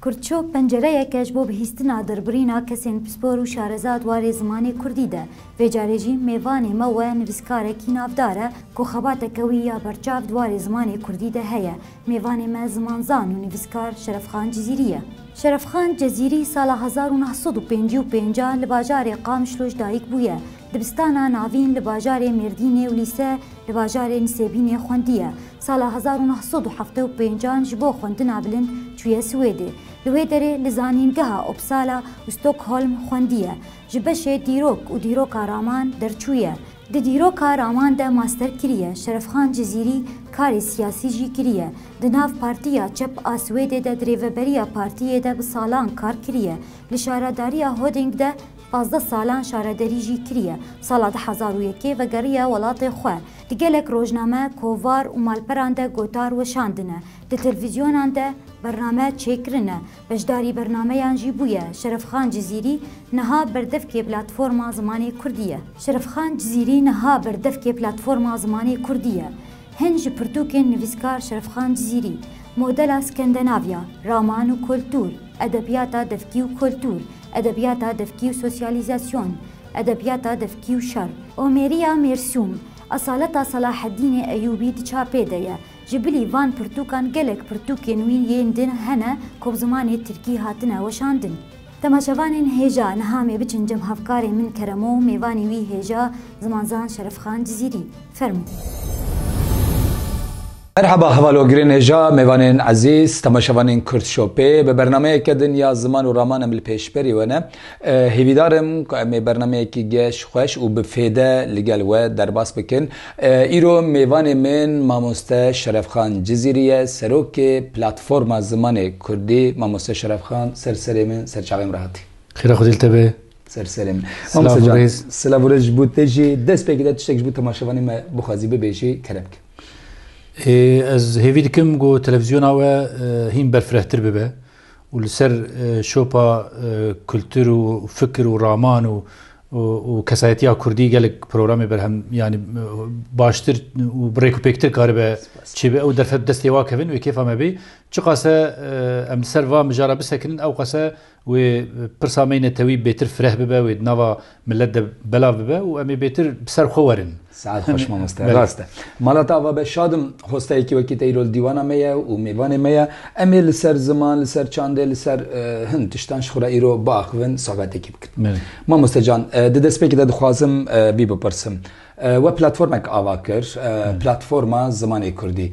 Kurdçok, pencereyeke ji bo bihîstina derbirîna kesên pispor û şarezad warê zimanê kurdî de. Vê carê jî mêvanê me we nivîskarekî navdar e ku xebateke wî ya berçav di warê zimanê kurdî de heye. Mêvanê me zimanzan û nivîskar Şerefxan Cizîrî ye. Şerefxan Cizîrî sala hezar û neh sed û pêncî û pêncî li bajarê Qamişloş dayik bûye. Dibistana navîn li bajarê Mêrdînê û lîse li bajarê Nisêbînê xwendiye. Sala hezar û neh sed û heft û pêncan ji bo xwendina bilind çûye Swêdê. Li wê derê li zanîngeha Uppsala û Stockholm xwendiye. Ji beşê dîrok û dîroka raman derçûye. Di dîroka raman de master kiriye. Şerefxan Cizîrî karê siyasî jî kiriye. Di nav Partiya Çep a Swêdê de di rêveberiya partiyê de bi salan kar kiriye. Li şaredariya Huddinge de pazdeh salan şarederî jî kiriye. Sala du hezar û yekê vegeriye welatê xwe. Di gelek rojname, kovar û malperan de gotar weşandine, di televîzyonan de bername çêkirine, beşdarî bernameyan jî bûye Şerefxan Cizîrî, niha berdevkê Platforma Zimanê Kurdî ye. Şerefxan Cizîrî niha berdevkê Platforma Zimanê Kurdî ye. Hin ji pirtûkên nivîskar Şerefxan Cizîrî, Modela Skendenavya, Raman û Kultur, Edebiyata Devkî û Kultur, Edebiyata Devkî û Sosyalîzasyon, Edebiyata Defkî û Şer, Omêriya Mêrsûm, Esaleta Selahedînê Eyûbî di çapê de ye. Ji bilî van pirtûkan gelek pirtûkên wî yên din hene ku bi zimanê tirkî hatine weşandin. Temaşevanên hêja niha mê biçin cem hevkarê min Keremo û mêvanî wî hêja zimanzan Şerefxan Cizîrî. Fermo. Merhaba hevalogirên hêja, mêvanên ezîz, temaşevanên Kurdshopê. Bi bernameyeke din ya ziman û raman em li pêşberî we ne. Hêvîdar im ku em ê bernameyekî geş, xweş û bi fêde li gel we derbas bikin. Îro mêvanê min mamoste Şerefxan Cizîrî ye, serokê Platforma Zimanê Kurdî. Mamoste Şerefxan ser serê min, ser çavê min re hatî. Xêra Xwedî li te be. Ser serê min. Mamoste can, silav û rêz ji bo te jî. Destpêkê de tiştek ji bo temaşevanên me bixwazî bibêjî, kerem bike. Ez hêvî dikim ku televîzyona we hîn berfirehtir bibe û li ser şopa kultur û fikir û raman û û kesayetiya Kurdî gelek programê berhem yanî baştir û birêk û pêktir karibe çêbe ew derfet destê wa kevin wê kêfa me bê. Çiqase em li ser va mijara bisekinin ew qase Wê pirsa me yê netewî bêtir fireh bibe, wê di nava milet de belav bibe û em ê bêtir bi ser xwe werin. Saet xweş mamoste. Rast e. Mala te ava be şad im. Xwesteyekî wekî te îro li dîwana me ye û mêvanê me ye. Em ê li ser ziman, li ser çandê, li ser hin tiştan ji xwe re îro biaxivin, sohbetekî bikin. Mamoste can, di destpêkê de dixwazim vî bipirsim. We platformek ava kir, Platforma Zimanê Kurdî.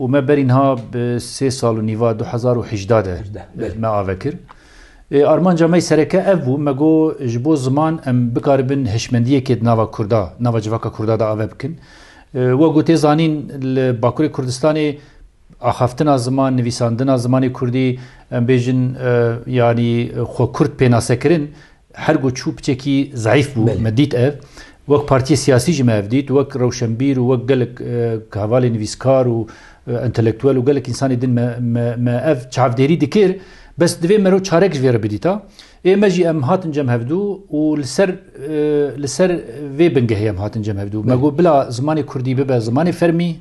Û me berî niha bi sê sal û nîva du hezar û hejdeh de me ave kir. Ê armanca me yê sereke ev bû, me got ji bo ziman em bikaribin hişmendiyekê di nava Kurda, nava civaka Kurda de ave bikin. Wek ku tê zanîn li Bakurê Kurdistanê axaftina ziman, nivîsandina zimanê Kurdî em bêjin yanî xwe Kurd pênasekirin Her ku çû piçekî zeîf bû, me dît ev. Wek partiyê siyasî jî me ev dît, wek rewşenbîr û wek gelek hevalê nivîskar û entelektuel û gelek însanê din me ev çavdêrî dikir. Bes divê mero çarek ji vê re bidîta. Ê me jî em hatin cem hevdu û li ser li ser vê bingehê em hatin cem hevdu. Me got bila zimanê kurdî bibe zimanê fermî,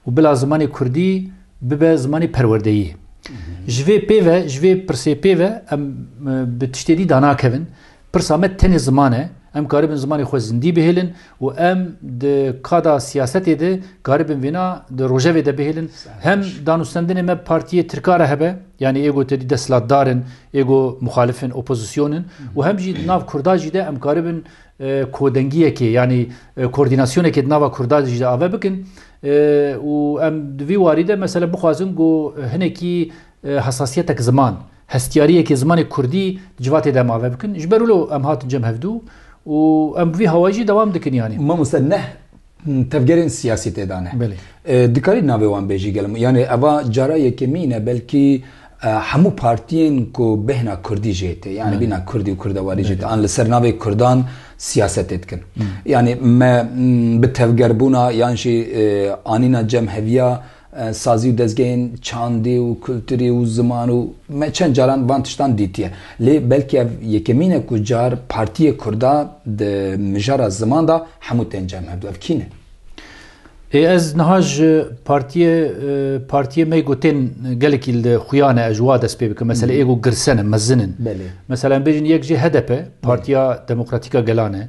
û bila zimanê kurdî bibe zimanê perwerdeyî. Ji vê pêve ji vê pirsê pêve em bi tiştê dî danakevin. Pirsa me tenê ziman e. Em karibin zimanê xwe zindî bihêlin û em di kada siyasetê de karibin vêna di rojevê de bihêlin. Hem danûstendinê me partiyê Tirka re hebe, yanî êgo te dî desthilatdar in, êgo muxalif in, opozîsyon in û hem jî di nav Kurda jî de em karibin Kodengiyekê yanî koordînasyonekê di nava Kurdan jî de ave bikin û em di vî warî de mesele bixwazin ku hinekî hesasiyetek ziman, hestiyariyekê zimanê Kurdî di civatê de em ave bikin. Ji ber wilo em hatin cem hevdu û em bi vî hawayî jî dewam dikin yanî. Mamoste neh Tevgerên siyasî tê de ne. Dikarî navê wan bêjî gel min. Yanî eva cara yekemî ne belkî hemû partiyên ku bêhna kurdî jê tê yanî bîna kurdî û kurdewarî jê tê an li ser navê kurdan siyasetê dikin. Yanî me bi tevgerbûna yan jî anîna cem heviya Sazî û dezgehên çandî û kulturî û ziman û me çend caran van tiştan dîtiye. Lê belkî ev yekemîn e ku car partiyê kurda di mijara ziman de hemû tên cem hebû. Ev kî ne? Ê ez niha ji partiyê partiyê me ku tên gelekî li xuya ne ez wa dest pê bikim. Mesele ê ku girsen in, mezin in. Belê. Mesele em bêjin yek jê HDP, Partiya Demokratîka Gelan e.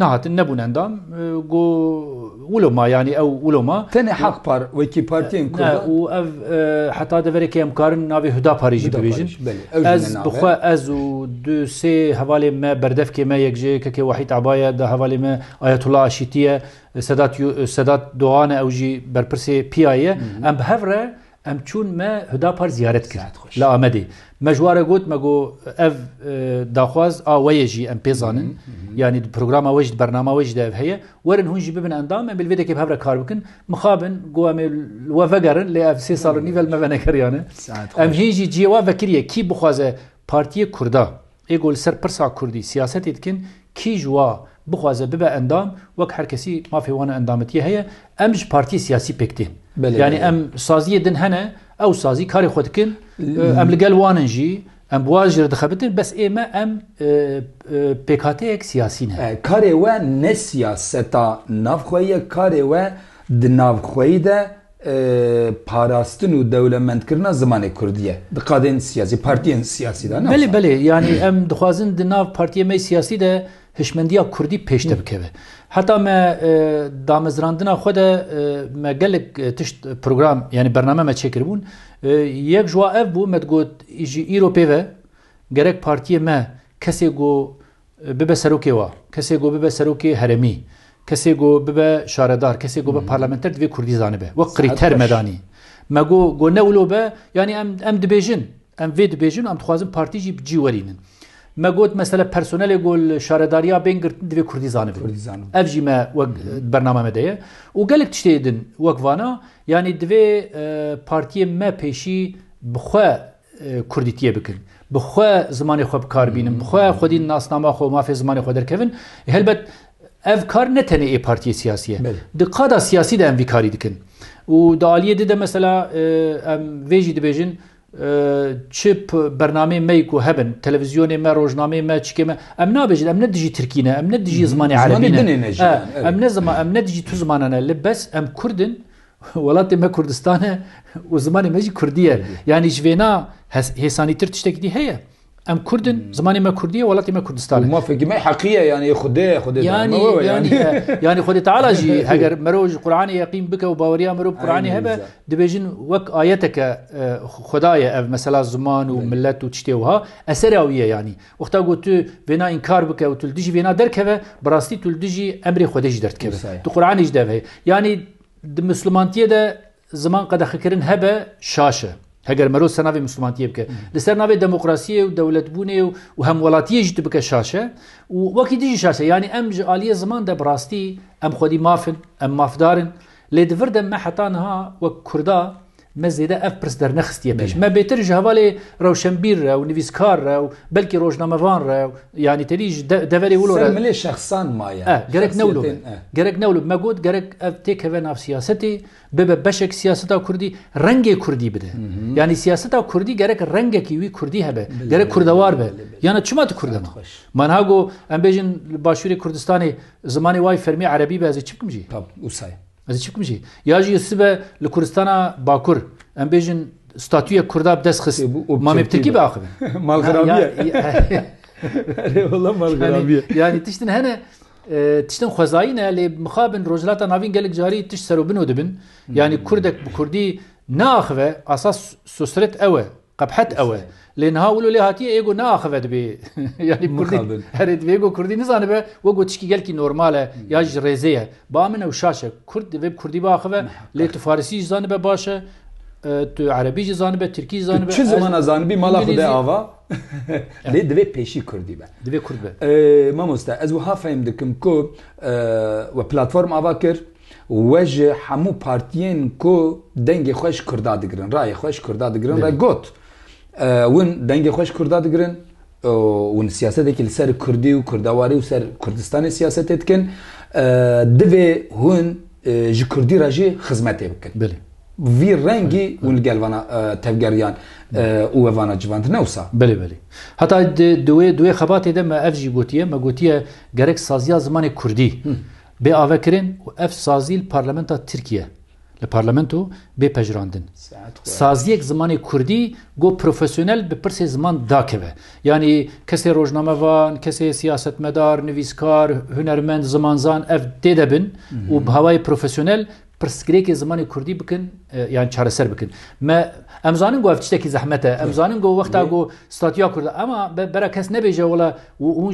Nehatin, nebûn endam. Go wilo ma yanî ew wilo ma. Tenê Haq Par wekî partiyên Kurd. Ne û ev heta deverekê em karin navê Hudaparî jî bibêjin. Ez bi xwe ez û du sê hevalê me berdevkê me yek ji YKKê Wahît Aba ye, da hevalê me Ayetullah Aşîtî ye, Sedat Sedat Dogan e ew jî berpirsê PIA'yê ye. Em bi hev re Em çûn me Hudapar ziyaret kir li Amedê. Me ji ware got me got ev daxwaz a we ye jî em pê zanin. Yanî di programa we jî di bernama we jî de ev heye. Werin hûn jî bibin endam em ê li vê dekê bi hev re kar bikin. Mixabin got em ê li we vegerin lê ev sê sal û nîv e li me venegeriyane. Em hê jî cihê wan vekiriye kî bixwaze Partiyê Kurda. Ê ku li ser pirsa kurdî siyasetê dikin, kî ji wa bixwaze bibe endam, wek her kesî mafê wan û endametiyê heye, em ji partiyê siyasî pêk tên. Yanî em saziyê din hene, ew sazî karê xwe dikin, em li gel wan in jî, em bi wan jî re dixebitin, bes ê me em pêkhateyek siyasî ne. Karê we ne siyaseta navxweyî ye, karê we di navxweyî de parastin û dewlemendkirina zimanê kurdî ye di qadên siyasî partiyên siyasî de. Belê belê yanî em dixwazin di nav partiyê me siyasî de hişmendiya kurdî pêşde bikeve. Heta me damezrandina xwe de me gelek tişt program yanî bername me çêkiribûn. Yek ji wa ev bû me digot jî îro pê ve gerek partiyê me kesê ku Bibe serokê wa, kesê ku bibe serokê herêmî, kesê ku bibe şaredar, kesê ku bibe parlamenter divê kurdî zanibe. Wek krîter me danî. Me got ku ne wilo be, yanî em em dibêjin, em vê dibêjin û em dixwazin partî jî bi cî werînin. Me got mesela personelê ku li şaredariya bên girtin divê kurdî zanibe. Kurdî zanibe. Ev jî me wek di bernama me de ye. Û gelek tiştê din wek vana, yanî divê partiyê me pêşî bi xwe Kurdîtiyê bikin. Bi xwe zimanê xwe bi kar bînin. Bi xwe xwedî nasnama xwe û mafê zimanê xwe derkevin. Helbet ev kar ne tenê ê partiyê siyasî ye. Di qada siyasî de em vî karî dikin. Û di aliyê di de mesela em vê jî dibêjin çi bernameyên me yî ku hebin, televîzyonê me, rojnameyê me, çikê me, em nabêjin em ne dijî tirkî ne, em ne dijî zimanê erebî ne. Em ne dijî tu zimanan ne li bes em kurd in Welatê me Kurdistan e û zimanê me jî Kurdî ye. Yanî ji vêna hêsanîtir tiştekî dî heye? Em Kurd in, zimanê me Kurdî ye, welatê me Kurdistan e. Mafekî me heqî ye yanî Xwedê ye, Xwedê dayê me we ye yanî. Yanî Xwedê Teala jî heger merov ji Quranê yeqîn bike û baweriya merov bi Quranê hebe dibêjin wek ayeteke Xweda ye ev mesela ziman û milet û tiştê wiha eserê wî ye yanî. Wexta ku tu vêna înkar bike û tu li dijî vêna derkeve, bi rastî tu li dijî emrê Xwedê jî derdikeve. Di Quranê jî de ev heye. Yanî di Mislumantiyê de ziman qedexekirin hebe şaş e. Heger merov ser navê Mislumantiyê bike. Li ser navê demokrasiyê û dewletbûnê û hemwelatiyê jî tu bike şaş e û wekî dijî şaş e. Yanî em ji aliyê ziman de bi rastî em xwedî maf in, em mafdar in. Lê di vir de me heta niha wek Kurda Me zêde ev pirs dernexistiye pêş. Me bêtir ji hevalê rewşenbîr re û nivîskar re û belkî rojnamevan re û yanî tevî ji deverê wilo re. Ser milê şexsan maye. Eh, gerek ne wilo be. Gerek ne wilo be. Me got gerek ev têkeve nav siyasetê, bibe beşek siyaseta Kurdî, rengê Kurdî bide. Yanî siyaseta Kurdî gerek rengekî wî Kurdî hebe. Gerek Kurdewar be. Yana çima tu Kurd ma? Ma niha got em bêjin li Başûrê Kurdistanê zimanê wa yî fermî Erebî be ez ê çi bikim jî? Tab, wisa ye. Ez ê çi bikim jî? Ya jî sibe li Kuristana Bakur em bêjin statûyek Kurda bi dest xist. Mamê bi Tirkî biaxivin. Malxirabiye. Erê wala malxirabiye. Yanî tiştin hene tiştin xwezayî ne lê mixabin Rojhilata Navîn gelek carî tişt serobino dibin. Yanî Kurdek bi Kurdî neaxive asas sosret ew e. Qebhet ew e. Lê niha wilo lê hatiye ê got neaxive dibê yanî kurdî herê dibê ê got kurdî nizanibe we got tişkî gelkî normal e ya ji rêzê ye. Ba min ew şaş e. Kurd divê bi kurdî biaxive lê tu farisî jî zanibe baş e, tu erebî jî zanibe, tirkî jî zanibe. Tu çi zimana zanibî mala xwe de ava lê divê pêşî kurdî be. Divê kurd be. Mamoste ez wiha fehm dikim ku we platform ava kir. We ji hemû partiyên ku dengê xwe ji Kurda digirin, rayê xwe ji Kurda digirin re got, Hûn dengê xwe ji Kurda digirin, hûn siyasetekî li ser Kurdî û Kurdawarî û ser Kurdistanê siyasetê dikin, divê hûn ji Kurdî re jî xizmetê bikin. Vî rengî hûn li gel vana tevgeriyan û we vana civand, ne wisa? Belê belê. Heta di wê xebatê de me ev jî gotiye, me gotiye gerek saziya zimanê Kurdî, Bê avekirin û ev sazî li parlamenta Tirkiye li parlamento bê pejirandin. Saziyek zimanê kurdî got profesyonel bi pirsê ziman dakeve. Yanî kesê rojnamevan, kesê siyasetmedar, nivîskar, hunermend, zimanzan ev tê de bin û bi hawayê profesyonel pirsgirêkê zimanê kurdî bikin yan çareser bikin. Me em zanin ku ev tiştekî zehmet e. Em zanin ku wexta ku statiya kurd ema bera kes nebêje wala hûn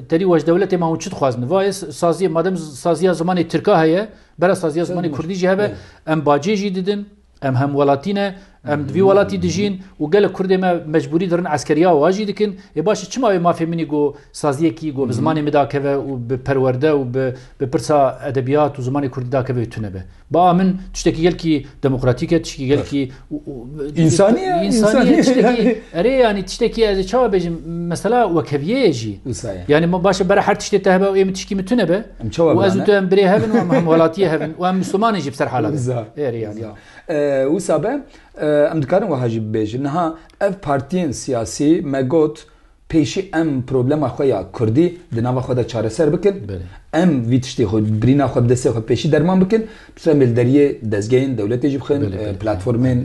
terî waj dewletê ma hûn çi dixwazin. Vayê saziyê madem saziya zimanê tirka heye bera saziya zimanê kurdî jî hebe em bacê jî didin. Em hemwelatî ne, em di vî welatî dijîn û gelek Kurdê me mecbûrî dirin eskeriya û ajî dikin. Ê baş e çima wê mafê min î got saziyekî got bi zimanê min dakeve û bi perwerde û bi bi pirsa edebiyat û zimanê Kurdî dakeve wê tune be. Ba a min tiştekî gelkî demokratîk e, tişkî gelkî Însanî ye, însanî ye tiştekî erê yanî tiştekî ez ê çawa bêjim mesela wekeviyê ye jî. Wisa ye. Yanî ma baş e bera her tiştê te hebe û ê min tişkî min tune be. û ez û tu em birê hev in û em hemwelatiyê hev in û em Misliman in jî bi ser hala be. Wisa be em dikarin wiha jî bibêjin niha ev partiyên siyasî me got pêşî em problema xwe ya Kurdî di nava xwe de çareser bikin. Em vî tiştê xwe birîna xwe bi destê xwe pêşî derman bikin. Bi sî re em ê li deriyê dezgehên dewletê jî bixin, platformên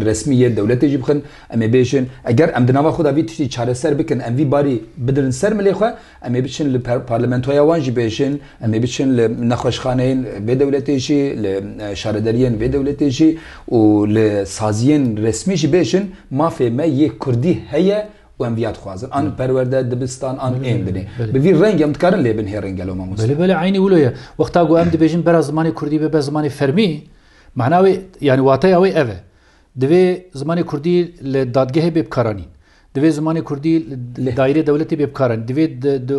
resmî yê dewletê jî bixin. Em ê bêjin eger em di nava xwe de vî tiştî çareser bikin, em vî barî bidirin ser milê xwe Em ê biçin li parlamentoya wan jî bêjin, em ê biçin li nexweşxaneyên vê dewletê jî, li şaredariyên vê dewletê jî û li saziyên resmî jî bêjin mafê me yê kurdî heye û em vîya dixwazin. An perwerde, dibistan, an ên binê. Bi vî rengê em dikarin lê bin hê reng gelo mamoste? Belê belê eynî wilo ye. Wexta ku em dibêjin bera zimanê kurdî bibe zimanê fermî, mena wê yanî wateya wê ev e. Divê zimanê kurdî li dadgehê bê bikaranîn. Divê zimanê kurdî li dayîrê dewletê bê bikaranîn. Divê di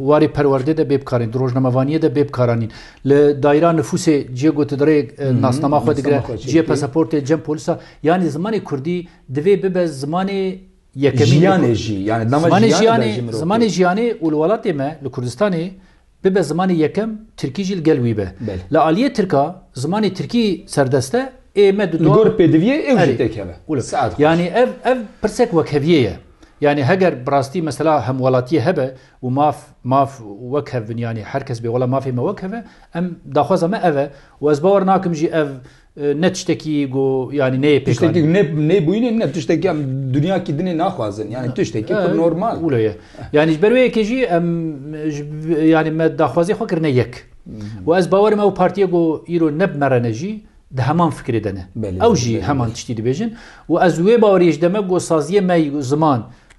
warê perwerdê de bê bikaranîn, di rojnamevaniyê de bê bikaranîn. Li dayîra nifûsê cihê gotidirê nasnama xwe digire, cihê pasaportê, cem polisa. Yanî zimanê kurdî divê bibe zimanê yekemîn. Jiyanê jî. Zimanê jiyanê, zimanê jiyanê û li welatê me, li Kurdistanê Bibe zimanê yekem, tirkî jî li gel wî be. Li aliyê tirka zimanê tirkî serdest e, ê me di Li gor pêdiviyê ew jî têk hebe. Saet xweş. Yanî ev ev pirsek wekheviyê ye. Yanî heger bi rastî mesela hemwelatiyê hebe û maf maf wekhevbin yanî her kes bê wela mafê me wekheve, em daxwaza me ev e û ez bawer nakim jî ev Ne tiştekî ku yanî neyê pêk anîn. Tiştekî ku ne nebûyîn e ne tiştekî em dinyakî din ê naxwazin. Yanî tiştekî pir normal. Wilo ye. Yanî ji ber wê yekê jî em yanî me daxwaziyê xwe kirine yek. Û ez bawerim ew partiyê ku îro ne bi me re ne jî di heman fikirê de ne. Ew jî heman tiştî dibêjin. Û ez wê baweriyê ji deme ku saziyê me ziman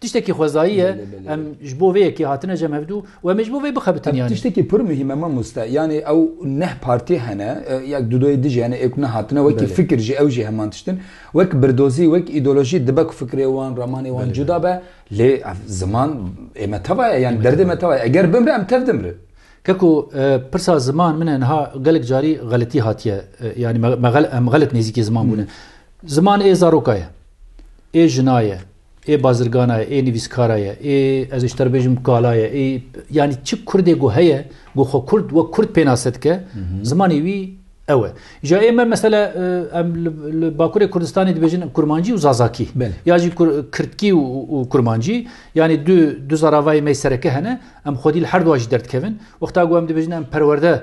Tiştekî xwezayî ye, em ji bo vê yekê hatine cem hevdû û em ê ji bo vê bixebitin yanî. Tiştekî pir muhîm e mamoste, yanî ew neh partî hene, ya Dudoyê dijî hene, ê ku nehatine wekî fikir jî ew jî heman tişt in. Wek birdozî, wek îdeolojî dibe ku fikirê wan, ramanê wan cuda be, lê ev ziman ê me teva ye, yanî derdê me teva ye. Eger bimre em tev dimrin. Keko pirsa ziman min e niha gelek carî xeletî hatiye, yanî me em xelet nêzîkê ziman bûne. Ziman ê zaroka ye, ê jina ye, Ê bazirgana ye, ê nivîskara ye, ê ez ê ji te re bêjim kala ye, ê yanî çi Kurdê ku heye ku xwe Kurd wek Kurd pênase dike, zimanê wî ew e. Îja ê me mesela em li Bakurê Kurdistanê dibêjin Kurmancî û Zazakî ya jî Kirdkî û Kurmancî yanî du du zaravayê me yê sereke hene, em xwedî li her du a jî derdikevin. Wexta ku em dibêjin em perwerde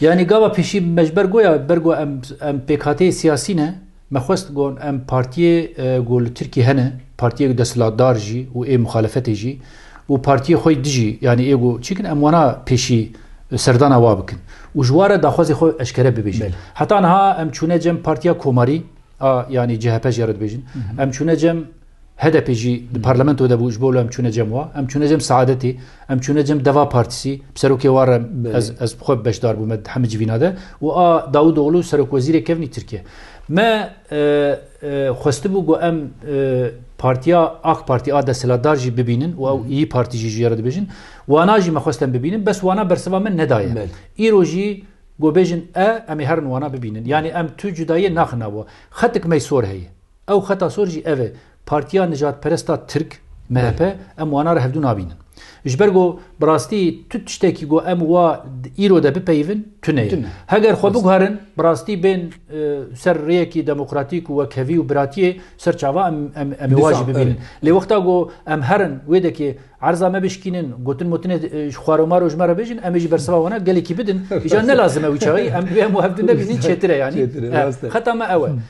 Yanî gava pêşî me ji ber goya ber got em pêkhateyê siyasî ne, me xwest got em partiyê ku li Tirkiyê hene, partiyê desthilatdar jî û ê muxalefetê jî û partiyê xwe di jî yanî ê ku çi dikin em wana pêşî serdana wa bikin û ji ware daxwazê xwe eşkere bibêjin. Heta niha em çûne cem partiya komarî a yanî chp jî ya re dibêjin em çûne cem. HDP'ê jî di parlamento de bû ji bo wilo em çûne cem wa. Em çûne cem Seadetê, em çûne cem Deva Partisî, bi serokê wan re ez ez xwe beşdar bûme di hemû civîna de û a Dawûdoglu serokwezîrê kevnî Tirkiye. Me xwestibû ku em partiya AK Partî a desthilatdar jî bibînin û ew Îyi Partî jî ji ye re dibêjin. Wana jî me xwest em bibînin bes wana bersiva min nedaye. Îro jî ku bêjin e em ê herin wana bibînin. Yanî em tu cudayiyê naxin nav wa. Xetik mey sor heye. Ew xeta sor jî ev e, Partiya Nijadperest a Tirk, MHP, em wana re hevdu nabînin. Ji ber ku bi rastî tu tiştekî ku em wa îro de bipeyivin tune ye. Heger xwe biguherin bi rastî bên ser rêyekî demokratîk û wekhevî û biratiyê ser çava em ê wa jî bibînin. Lê wexta ku em herin wêdekê erza me bişkînin, gotin motinê ji xwaromaro ji me re bêjin, em ê jî berseva wana gelekî bidin, îcar nelazim e wî çaxî em divê em û hevdu nebînin çêtir e yanî. Xeta me ew e.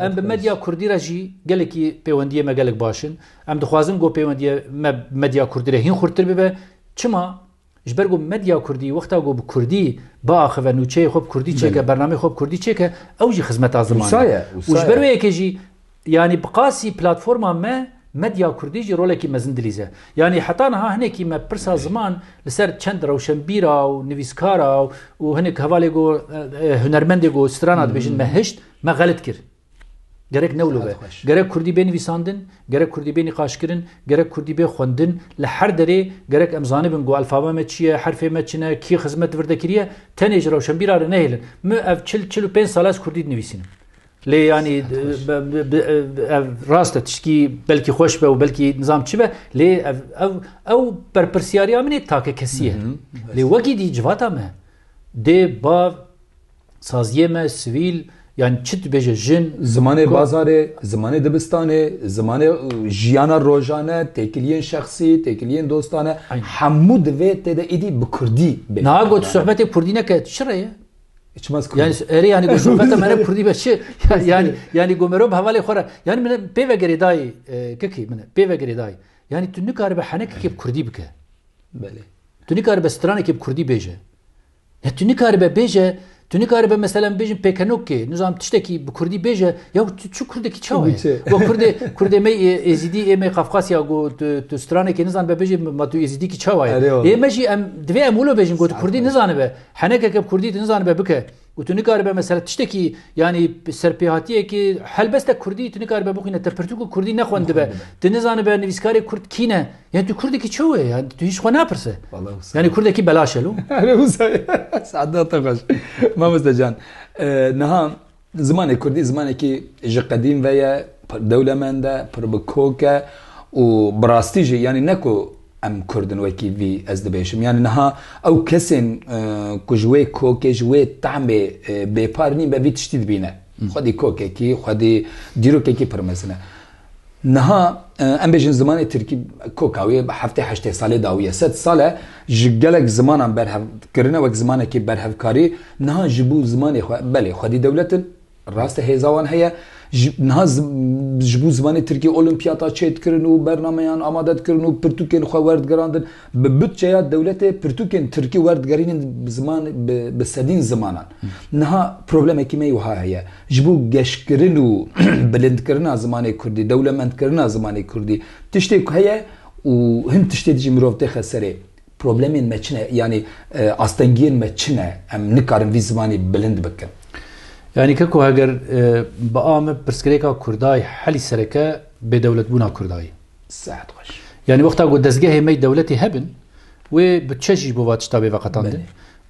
Em bi medya kurdî re jî gelekî pêwendiyê me gelek baş in. Em dixwazin ku pêwendiyê me bi medya kurdî re hîn xurttir bibe. Çima? Ji ber ku medya kurdî wexta ku bi kurdî biaxive, nûçeyê xwe bi kurdî çêke, bernameyê xwe bi kurdî çêke, ew jî xizmeta zimanê ye. Û ji ber wê yekê jî yanî bi qasî platforma me medya kurdî jî rolekî mezin dilîze. Yanî heta niha hinekî me pirsa ziman li ser çend rewşenbîra û nivîskara û hinek hevalê ku hunermendê ku strana dibêjin me hişt, Me xelit kir. Gerek newlo be. Gerek kurdî bê nivîsandin, gerek kurdî bê nîqaşkirin, gerek kurdî bê xwendin. Li her derê gerek em zanibin ku elfaba me çi ye, herfê me çi ne, kî xizmet vir de kiriye. Tenê ji rewşenbîra re nehêlin. Min ev çil, çil û pênc sal e ez kurdî dinivîsînim. Lê yanî ev rast e tiştkî belkî xweş be û belkî nizam çi be. Lê ev ew ew berpirsiyariya min ê takekesî ye. Lê wekî dî civata me dê bav Saziyê me sivîl yan çi dibêje jin. Zimanê bazarê, zimanê dibistanê, zimanê jiyana rojane, têkiliyên şexsî, têkiliyên dostane hemû divê tê de êdî bi kurdî bê. Niha got sohbetê kurdî neke çi re ye? Çimas kurdî. Yani erê yani got sohbeta me ne kurdî be çi? Yani yani got merov hevalê xwe re. Yani min pê vegerê dayî kikî min pê vegerê dayî. Yani tu nikaribe henekekê bi kurdî bike. Belê. Tu nikaribe stranekê bi kurdî bêje. Ya tu nikaribe bêje, tu nikaribe mesela em bêjin pêkenokkê, nizanim tiştekî bi Kurdî bêje, ya tu çi Kurdekî çawa ye? Wa Kurdê, Kurdê me Êzîdî ê me Qafqasya ku tu stranekê nizanibe bêjê ma tu Êzîdîkî çawa ye? Ê me jî em divê em wilo bêjin ku tu Kurdî nizanibe, henekeke bi Kurdî tu nizanibe bike û tu nikaribe mesela tiştekî yanî serpêhatiyekê helbeste Kurdî tu nikaribe bixwîne te pirtûk û Kurdî nexwendibe, tu nizanibe nivîskarê Kurd kî ne, Yani tu Kurdekî çew e yani tu hiç xwe napirse. Yani Kurdekî belaş elo. Sada te xweş. Mamoste can. Niha zimanê Kurdî zimanekî ji qedîm ve ye, pir dewlemend e, pir bi kok e û bi rastî jî yani ne ku em Kurdin wekî vî ez dibêjim. Yani niha ew kesên e, ku ji wê kokê ji wê tahmê e, bêpar nîn be vî tiştî dibîne. Xwedî kokekî, xwedî dîrokekî pir mezin e. Niha em bêjin zimanê Tirkî koka wê heftê heştê salê dawiye. Sed sal e ji gelek zimanan berhev kirine wek zimanekî berhevkarî. Niha ji bo zimanê xwe belê xwedî dewlet in, rast e hêza wan heye. Niha ji bo zimanê Tirkî olîmpiyata çêdikirin û bernameyan amade dikirin û pirtûkên xwe werdigirandin. Bi budçeya dewletê pirtûkên tirkî werdigerînin bi sedîn zimanan. Niha problemekî me wiha heye, ji bo geşkirin û bilindkirina zimanê kurdî, dewlemendkirina zimanê kurdî tiştê ku heye û hin tiştê dijî mirov têxe serê. Problemên me çi ne? Yanî astengiyên me çi ne? Em nikarin vî zimanî bilind bikin. Yanî ke ku heger bi a me pirsgirêka kurdayî helî sereke bêdewletbûna kurdayî. Sehet xweş. Yanî wexta ku dezgehê me dewletî hebin wê butçe jî bo va tişta bê veqetandin.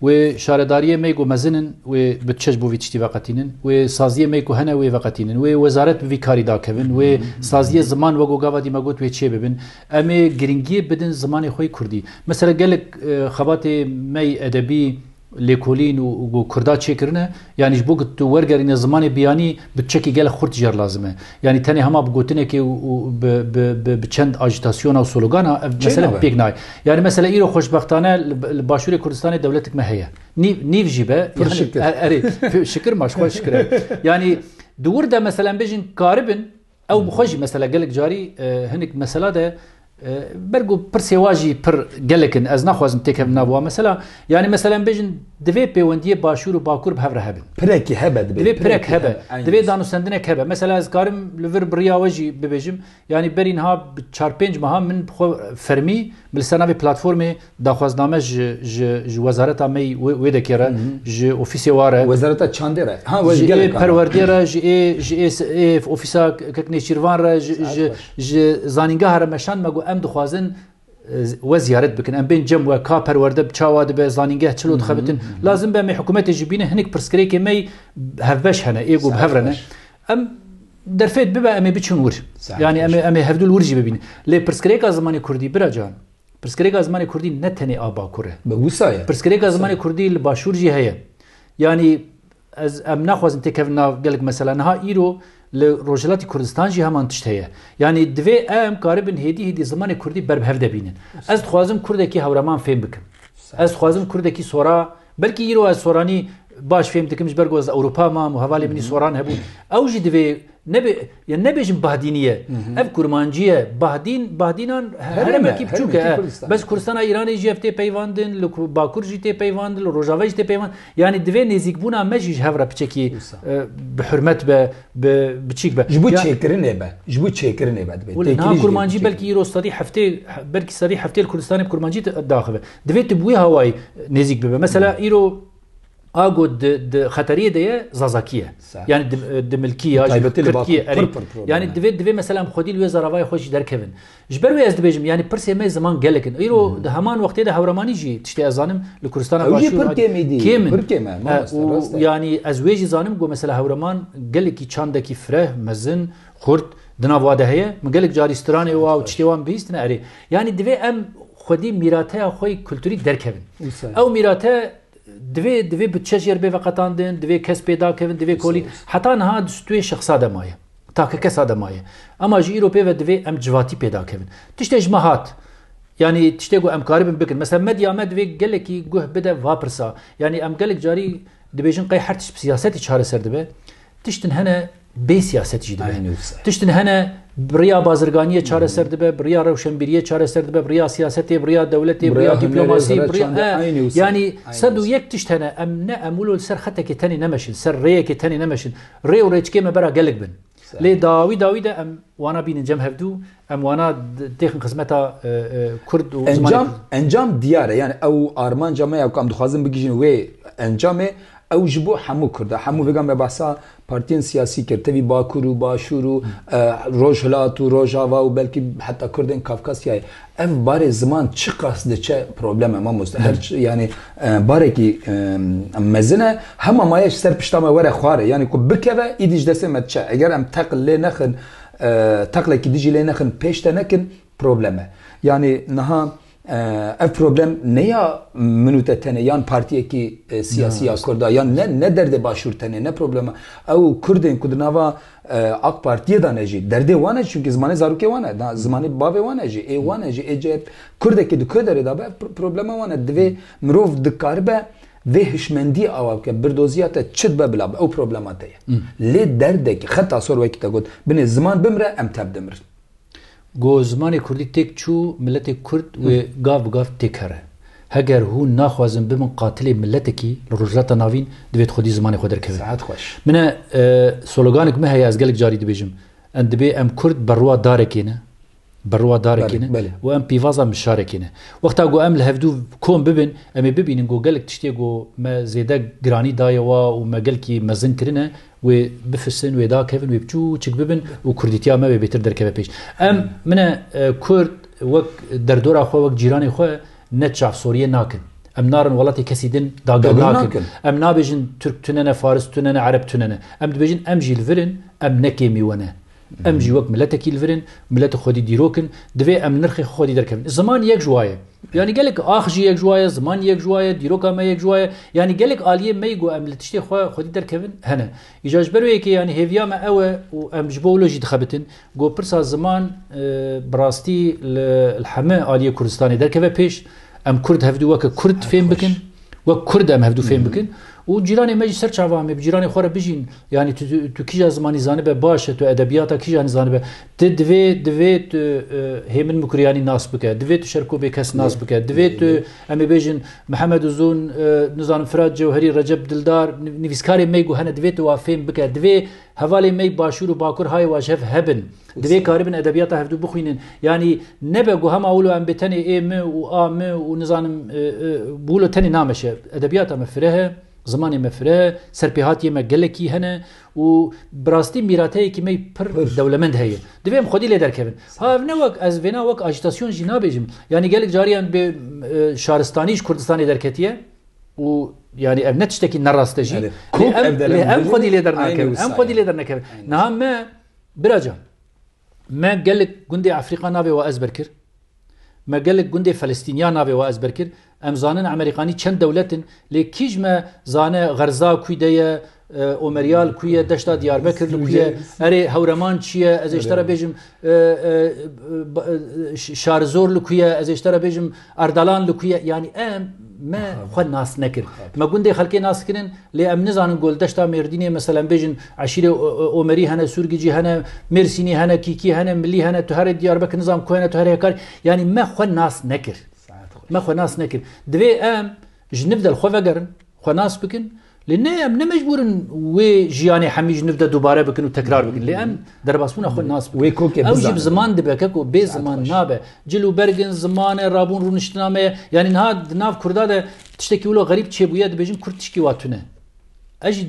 Wê şaredariyê me ku mezin in wê butçe ji bo vî tiştî veqetînin. Wê saziyê me ku hene wê veqetînin. Wê wezaret bi vî karî dakevin. Wê saziyê ziman wek ku gava dî me got wê çê bibin. Em ê giringiyê bidin zimanê xwe yê kurdî. Mesela gelek xebatê me yê edebî, lêkolîn û ku kurda çêkirine, yanî ji bo ku tu wergerîne zimanê biyanî bi çekê gelek xurt jî lazim e. Yanî tenê hema bi gotinekê û bi çend ajîtasyona û sologana ev mesele pêk nayê. Yanî mesele îro xweşbextane li başûrê Kurdistanê dewletik me heye. Nîv jî be. Pir şikir. Erê, şikir ma ji xwe şikir e. Yanî di wir de mesele em bêjin karibin, Ew bi xwe jî mesela gelek carî hinek mesela de ber ku pirsê wa jî pir gelek in ez naxwazim têkevim nav wa mesela yanî mesela em bêjin divê pêwendiyê başûr û bakur bi hev re hebin. Pirekî hebe divê. Divê pirek hebe. Divê danûstendinek hebe. Mesela ez karim li vir bi riya we jî bibêjim yanî berî niha bi çar pênc meha min bi xwe fermî bi li ser navê platformê Daxwazname ji ji ji wezareta me wê wê dekê re, ji ofîsê wa re, Wezareta Çandê re. Ha ji ji ê gelek perwerdiyê re, ji ê ji ê s- ê ofîsa Kek Nêçîrvan re, ji Saet ji baş. ji zanîngeha re meşand me ku em dixwazin e, z- we ziyaret bikin. Em bên cem we ka perwerde bi çawa dibe, zanîngeh çilo dixebitin. Lazim be em ê hikûmetê jî bînin hinek pirsgirêkê me hevbeş hene, ê ku bi Saet hev re ne. baş. Em derfet bibe em ê biçin wir. Saet Yani em baş. ê em ê hevdûl wir jî bibînin. Lê pirsgirêka zimanê Kurdî bira can. Pirsgirêka zimanê kurdî ne tenê a bakur e. Bi wisa ye. Pirsgirêka zimanê kurdî li başûr jî heye. Yanî ez em naxwazin têkevin nav gelek mesela. Niha îro li Rojhilatî Kurdistan jî heman tişt heye. Yanî divê em karibin hêdî hêdî zimanê kurdî ber bi hev de bînin. Ez dixwazim kurdekî hewreman fêm bikim. Ez dixwazim kurdekî sora Belkî îro ez soranî baş fêm dikim ji ber ku ez Ewropa mam û hevalê min jî soran hebûn. Ew jî divê nebê ya nebêjin bahdînî ye. Ev kurmancî ye. Bahdîn bahdînan heremekî biçûk e. Bes Kurdistana Îranê jî ev tê peyvandin, li Bakur jî tê peyvandin, li Rojave jî tê peyvandin. Yanî divê nêzîkbûna me jî ji hev re piçekî bi hurmet be, bi biçîk be. Ji bo çêkirinê be, ji bo çêkirinê be divê. Wele niha kurmancî belkî îro sedî heftê belkî sedî heftê li Kurdistanê bi kurmancî daxive. Divê tu bi wê hawayî nêzîk bibe. Mesela îro ago di xeteriyê de ye zazakî ye. Yani di milkî ya ji Kurdkî ye erê. Yani divê divê mesela em xwedî li wê zaravayê xwe jî derkevin. Ji ber wê ez dibêjim yani pirsê me ziman gelek in. Îro di heman wextê de hewremanî jî tiştê ez zanim li Kurdistana Başûr kêm in. Yani ez wê jî zanim ku mesela hewreman gelekî çandekî fireh, mezin Xurt, di nav wa de heye? Min gelek carî stranê wa û tiştê wan bihîstine erê. Yanî divê em xwedî mîrateya xwe yê kulturî derkevin. Ew mîrate divê divê bi çeş yer bê veqetandin, divê kes pêda kevin, divê kolî heta niha di stûyê şexsa de maye. Takekesa de maye. Ema ji îro pê ve divê em civatî pêda kevin. Tiştê ji me hat. Yanî tiştê ku em karibin bikin. Mesela medya me divê gelekî guh bide va pirsa. Yanî em gelek carî dibêjin qey her tişt bi siyasetî çareser dibe. Tiştin hene bê siyaset jî dibe. Tiştin hene bi riya bazirganiyê çareser dibe, bi riya rewşenbîriyê çareser dibe, bi riya siyasetê, bi riya dewletê, bi riya dîplomasî, bi riya yanî sed û yek tişt hene em ne em wilo li ser xetekê tenê nemeşin, ser rêyekê tenê nemeşin. Rê û rêçikê me bera gelek bin. Lê dawî dawî de em wana bînin cem hevdû Em wana têxin xizmeta Kurd û zimanê Kurd. Encam diyar e. Yani ew armanca me ya ku em dixwazin bigihîjin wê encamê ew ji bo hemû Kurd e. Hemû vêga me behsa partiyên siyasî kir. Tevî Bakur û Başûr û Rojhilat û Rojava û belkî heta Kurdên Kafkasyayê. Ev barê ziman çiqas diçe problem e mamoste. Her yani barekî mezin e. Hema maye ji ser pişta me were xwar e. Yani ku bikeve îdî ji destê me diçe. Eger em teqil lê nexin Teqlekî dijî lê nexin pêş te nekin problem e. Yanî niha ev problem ne ya min û te tenê yan partiyekî siyasî ya Kurd a yan ne ne derdê Başûr tenê ne problema ew û Kurdên ku di nava AK Partiyê de ne jî derdê wan e çunkî zimanê zarokê wan e zimanê bavê wan e jî ê wan e jî ê Kurdekî di ku derê de be ev problema wan e. Divê mirov dikaribe Vê hişmendiyê awa bike, birdoziya te çi dibe bila be, ew problema te ye. Lê derdekî, xeta sor wekî te got, binê ziman bimire em tep dimirin. Ku zimanê kurdî têk çû, miletê kurd wê gav bi gav têk here. Heger hûn naxwazin bibin qatilê miletekî li Rojhilata Navîn, divêt xwedî zimanê xwe derkevin. Sihet xweş. Min e, sologanek min heye ez gelek carî dibêjim, em dibê em kurd berwa darekê ne. Bi rowa darekê ne û em pîvaza mişarekê ne. Wexta ku em li hevdû kom bibin, em ê bibînin ku gelek tiştê ku me zêde giranî daye wa û me gelkî mezin kirine, wê bifisin, wê dakevin, wê biçûçik bibin û kurdîtiya me wê bêtir derkeve pêş. Em, min e, kurd wek derdora xwe, wek cîranê xwe ne çavsoriyê nakin. Em narin welatê kesî din dagir nakin. Em nabêjin Tirk tune ne, Faris tune ne, Ereb tune ne. Em dibêjin em jî li vir in, em ne kêmî we ne. Em jî wek miletekî li vir in, mileti xwedî dîrok in, divê em nirxê xwe xwedî derkevin. Ziman yek ji wa ye. Yanî gelek ax jî yek ji wa ye, ziman yek ji wa ye, dîroka me yek ji wa ye. Yanî gelek aliyên me yî ku em li tiştê xwe xwedî derkevin hene. Îja ji ber wê yekê yanî hêviya me ew e û em ji bo wilo jî dixebitin ku pirsa ziman bi rastî li heme aliyê Kurdistanê derkeve pêş. Em Kurd hevdu weke Kurd fêm bikin. Wek Kurd em hevdû fêm bikin û cîranê me jî ser çavan me bi cîranê xwe re bijîn. Yanî tu, tu kîja zimanî zanibe baş e, tu edebiyata kîjanî zanibe. Ti divê divê tu e, Hêmin Mukuriyanî nas bike, divê tu Şerko Bêkes nas bike, divê tu em ê bêjin Mihemed Uzun, e, nizanim Firat Cewherî, Recep Dildar, nivîskarê me ku hene divê tu wa fêm bike, divê Hevalên me Başûr û Bakur hayê wa ji hev hebin. Divê karibin edebiyata hevdû bixwînin. Yanî nebe ku hema wilo em bê tenê ê mi û a mi û nizanim bi wilo tenê nameşe. Edebiyata me fireh e, zimanê me fireh e, serpêhatiyê me gelekî hene û bi rastî mîrateyekî me pir dewlemend heye. Divê em xwedî lê derkevin. Ha ev ne wek ez vêna wek ajitasyon jî nabêjim. Yanî gelek cariyan bi şaristanî ji Kurdistanê derketiye. û yarî ev ne tiştekî nerast e jî em xwedî lê dernakevin em xwedî lê dernekevin niha me biracan me gelek gundê Efrîqa navê we ezber kir me gelek gundê Felistîniya navê we ezber kir em zanin Emerîkanî çend dewletin lê kî ji me zane xerza kû de ye Omeryal ku ye deşta Diyarbekir li ku ye erê hewreman çi ye ez ê ji te re bêjim şarizor li ku ye ez ê ji te re bêjim erdalan li ku ye yanî em me xwe nas nekir me gundê xelkê nas kirin lê em nizanin gol deşta mêrdînê meselem bêjin eşîrê omerî hene sûrgicî hene mêrsînî hene kîkî hene milî hene tu herê Diyarbekir nizam ku hene tu herê hekar yanî me xwe nas nekir me xwe nas nekir divê em ji nivdel xwe vegerin xwe nas bikin Lê ne em ne mecbûr in wê jiyanê hemî ji nûv de dubare bikin û tekrar bikin. Lê em derbasbûna xwe nas bikin. Wê kokê bizanin. Ew jî bi ziman dibe ke ku bê ziman nabe. Cil û berg in, ziman e, rabûn rûniştina me ye. Yanî niha di nav kurda de tiştekî wilo xerîb çêbûye dibêjin kurd tişkî wa tune. Ez jî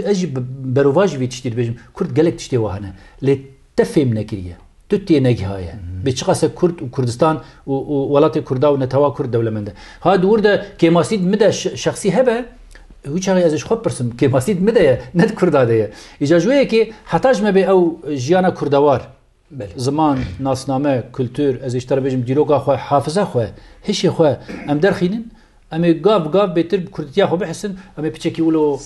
ez jî berovajî vî tiştî dibêjim. Kurd gelek tiştê wa hene. Lê Te fêm nekiriye. Tu tênegihaye. Bê çiqase Kurd û Kurdistan û û welatê Kurda û netewa Kurd dewlemend e. Ha di wir de kêmasîd mi de şexsî hebe, hiçaxê ez ji xwe bipirsim, kêmasîd mi de ye, ne di Kurda de ye. Îja ji wê yekê heta ji me bê ew jiyana Kurdewar, ziman, nasname, kultur, ez ê ji te re bêjim dîroka xwe, hafiza xwe, hişê xwe em derxînin Em ê gav gav bêtir bi kurdîtiya xwe bihisin, em ê piçekî wilo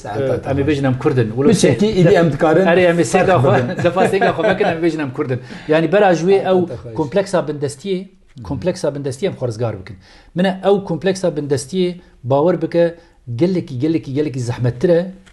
em ê bêjin em kurd in. Wilo sê Piçekî îdî em dikarin Erê em ê ferq sêga xwe bibin. defa sêga xwe vekin em ê bêjin em kurd in. Yanî bera ji wê ew Hata xwe. kompleksa bindestiyê kompleksa bindestiyê em xwe rizgar bikin. Min e ew kompleksa bindestiyê bawer bike gelekî gelekî gelekî zehmettir e,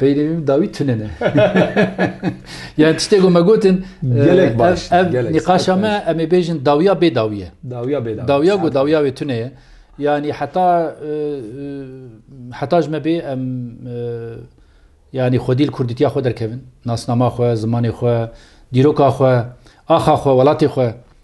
Peynî min dawî tune ne. yani tiştê ku me gotin gelek baş. Ev nîqaşa me em ê bêjin dawiya bê dawiye. Dawiya bê dawiye. Dawiya ku dawiya wê tune ye. Yani heta heta ji me bê em yani xwedîl kurdîtiya xwe derkevin. Nasnama xwe, zimanê xwe, dîroka xwe, axa xwe, welatê xwe.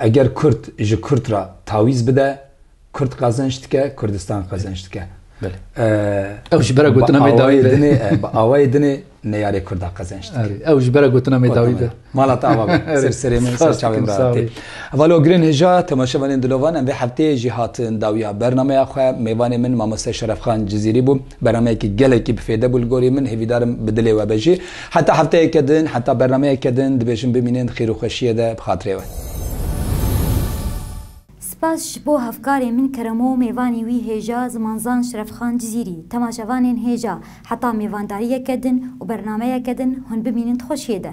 Eger Kurd ji Kurd re tawîz bide, Kurd qezenç dike, Kurdistan qezenç dike. Ew ji bera gotina me dawî be. Bi awayê dinê neyarê Kurda qezenç dike. Ew ji bera gotina me dawî be. Mala te ava be. Ser serê min, ser çavê min re hatê. Valo girên hêja, temaşevanên dilovan em vê hefteyê jî hatin dawiya bernameya xwe. Mêvanê min Mamoste Şerefxan Cizîrî bû. Bernameyekî gelekî bi fêde bû li gorî min. Hêvîdarim bi dilê we be jî. Heta hefteyeke din, heta bernameyeke din dibêjim bimînin di xêrûxweşiyê de bi xatirê we. Spas ji bo hevkarê min Keremo û mêvanê wî hêja Zimanzan Şerefxan Cizîrî, temaşevanên hêja heta mêvandariyeke din û bernameyeke din hûn bimînin di xweşiyê de.